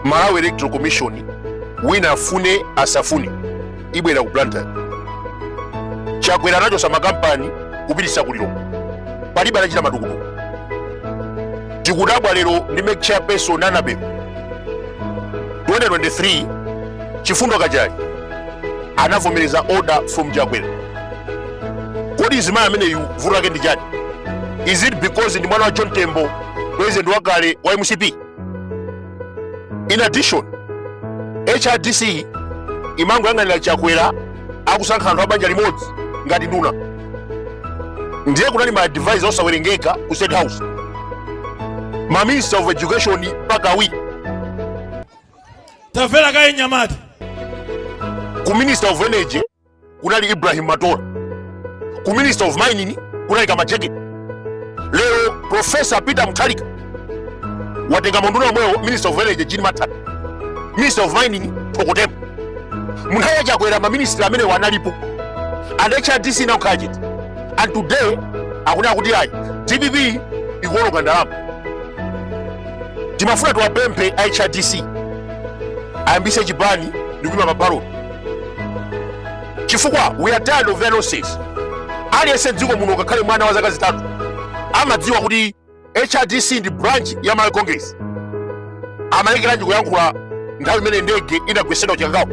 malawi electoral commission wina afune asafune ibwerera ku blantyre chakwera anachosa makampani kupitisa ku lilongwe palibe anachita matukutuku tikudabwa lero ndi mec chairperson annabel 2023 chifundo kachale anavomereza order from chakwera kodi mzimayi ameneyu vuto lake ndi chani is it because ndi mwana wa john tembo president wakale wa mcp in addition hrdc imangoyang'anira chakwera akusankha anthu a banja limodzi ngati nduna ndiye kunali ma advisor osawerengeka ku state house ma minister of education mpaka awiri tamvera kaye mnyamata ku minister of energy kunali ibrahim matola ku minister of mining kunali kamajeke lero profesa peter mutharika watenga maunduna omwewo minister of energy jean mathanga minister of mining thoko tembo munthawi yachakwera maministri amenewa analipo and hrdc inangokhala chete and today akunena kuti ayi dpp ikuononga ndalama timafuna tiwapemphe hrdc ayambise chipani ndikuyima pa ballot chifukwa we are tired of their nonsense aliyense mdziko muno ngakhale mwana wa zaka zitatu amadziwa kuti hrdc ndi branch ya malawi congress amalekeranji kuyankhula nthawi imene ndege inagwesedwa kuchikangawa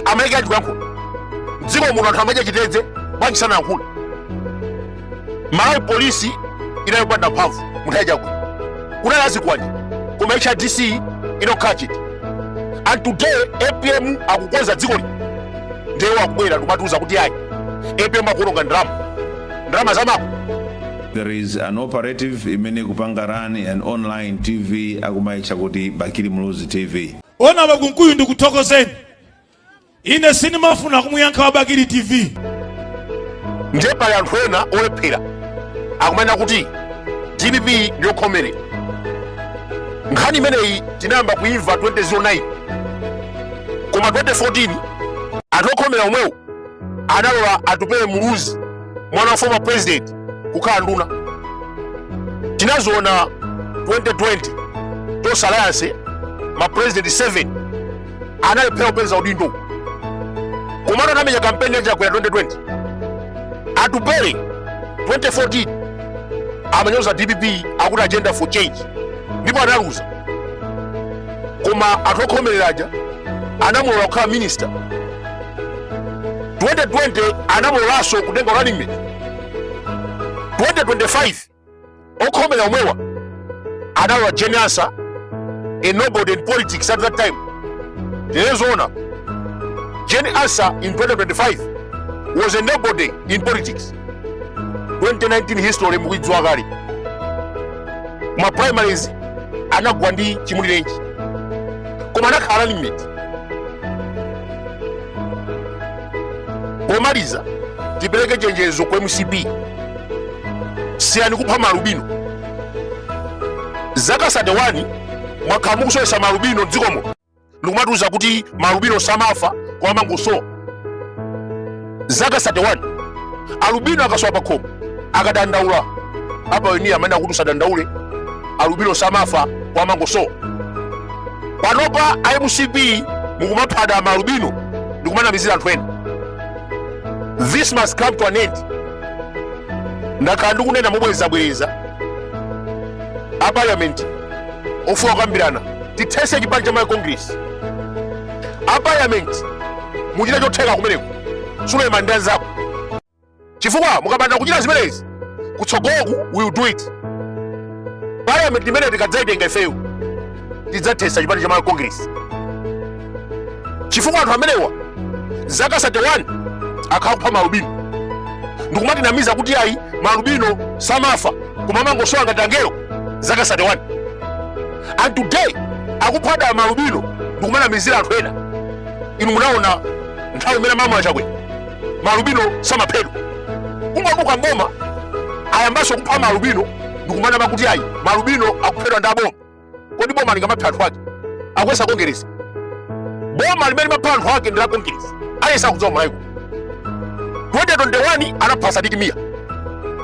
amalekeranji kuyankhula mdziko muno anthu amadya chitedze bwanji sanayankhule malawi polisi inali yopanda mphamvu munthawi ya chakwera kunali azikwanje koma hrdc inokhala chete and today apm akukonza dzikoli ndiye iwo akubwera ndikumatiuza kuti ayi apm akuononga ndalama ndalama zamako there is an operative imene ikupanga run an online tv akumaitcha kuti bakili muluzi tv honourable kunkuyu ndikuthokozeni ine sindimafuna kumuyankha wa bakili tv ndiye pali anthu ena olephera akumanena kuti dpp ndiyokhomerera nkhani imeneyi tinayamba kuimva 2009 koma 2014 anthu okhomera omwewo analola atupele muluzi mwana wa former president kukhala nduna tinaziona 2020 tonse alliance ma president 7 analephera kupeza udindo komano anamenya kampeni ya chakwera 2020 atupele 2014 amanyoza dpp akuti agenda for change ndipo analuza koma anthu okhomerera aja anamulola kukhala minister 2020 anamulolanso kutenga running mate 2025 okhomera omwewa analola Jane Ansah a nobody in politics at that time tinene zoona Jane Ansah in 2025 was a nobody in politics 2019 history mukuidziwa kale koma ma primaries anagwa ndi Chimulirenji koma anakhala running mate pomaliza tipereke chenjezo ku mcp siyani kupha maalubino zaka 31 mwakhala mukusowetsa maalubino mdzikomo ndikumatiuza kuti maalubino samafa koma amangosowa zaka 31 alubino akasowa pakhomo akadandaula a pioneer amanena kuti usadandaule alubino samafa koma amangosowa panopa a mcp mukumaphabe maalubino ndikumanamizira anthu ena this must come to an end ndakhala ndikunena mobwerezabwereza a parliament tikufuna kukambirana tithetse chipani cha Malawi Congress a parliament muchita chotheka kumeneko Suleman ndi anzako chifukwa mukapanda kuchita zimenezi kutsogoloku we will do it parliament imene tikadzaitenga ifeyo tidzathetsa chipani cha malawi congress chifukwa anthu amenewa zaka 31 akhala akupha maalubino ndikumatinamiza kuti ayi maalubino samafa koma amangosowa ngati angelo zaka 31 and today akuphabe maalubino ndikumanamizira anthu ena inu munaona nthawi imene amalamula Chakwera maalubino samaphedwa kungochoka mboma ayambanso kupha maalubino ndikumanama kuti ayi maalubino akuphedwa ndi aboma kodi boma lingamaphe anthu ake akuyesa kongeresi boma limene limapha anthu ake ndi la kongeresi aliyense akudziwa m'Malawi muno 2021 anapha Sidik Mia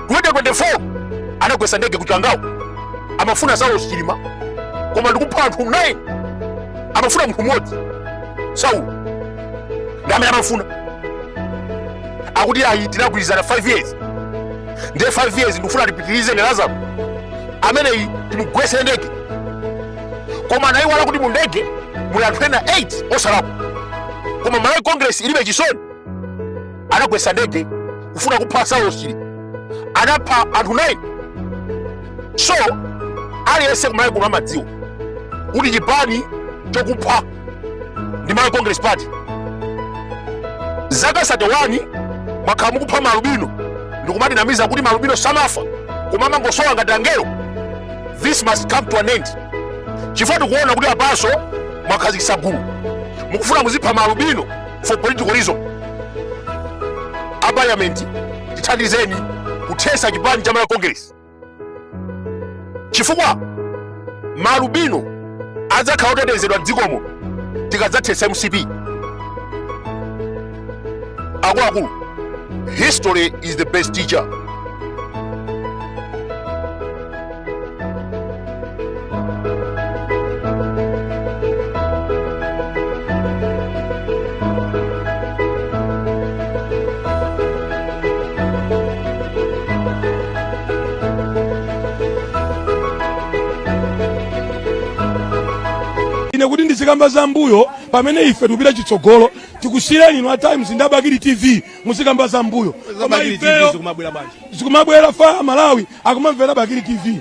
2024 anagwesa ndege ku Chikangawa amafuna Saulos Chilima koma ndikupha anthu 9 amafuna munthu mmodzi Saulo ndi amene amafuna akuti ayi tinagwirizana 5 years ndiye 5 years ndikufuna tipitirize ndi Lazaro ameneyi timugwese ndege koma anayiwala kuti mu ndege muli anthu ena 8 osalakwa koma Malawi Congress ilibe chisoni anagwesa ndege kufuna kupha Saulosi anapha anthu 9 so aliyense ku Malawi kuno amadziwa kuti chipani chokupha ndi Malawi Congress Party zaka 31 mwakhala mukupha maalubino ndikumatinamiza kuti maalubino samafa koma amangosowa ngati angelo this must come to an end chifukwa tikuona kuti apanso mwakhazikitsa gulu mukufuna muzipha maalubino for political reason a parliament tithandizeni kuthetsa chipani cha Malawi Congress chifukwa maalubino adzakhala otetezedwa mdzikomo tikadzathetsa mcp akuluakulu history is the best teacher ine kuti ndizikamba za mbuyo pamene ife tikupita chitsogolo tikusiyeni inu a Times ndi a Bakili TV muzikamba za mbuyo koma ifeyo zikumabwera fire Amalawi akumamvera a Bakili TV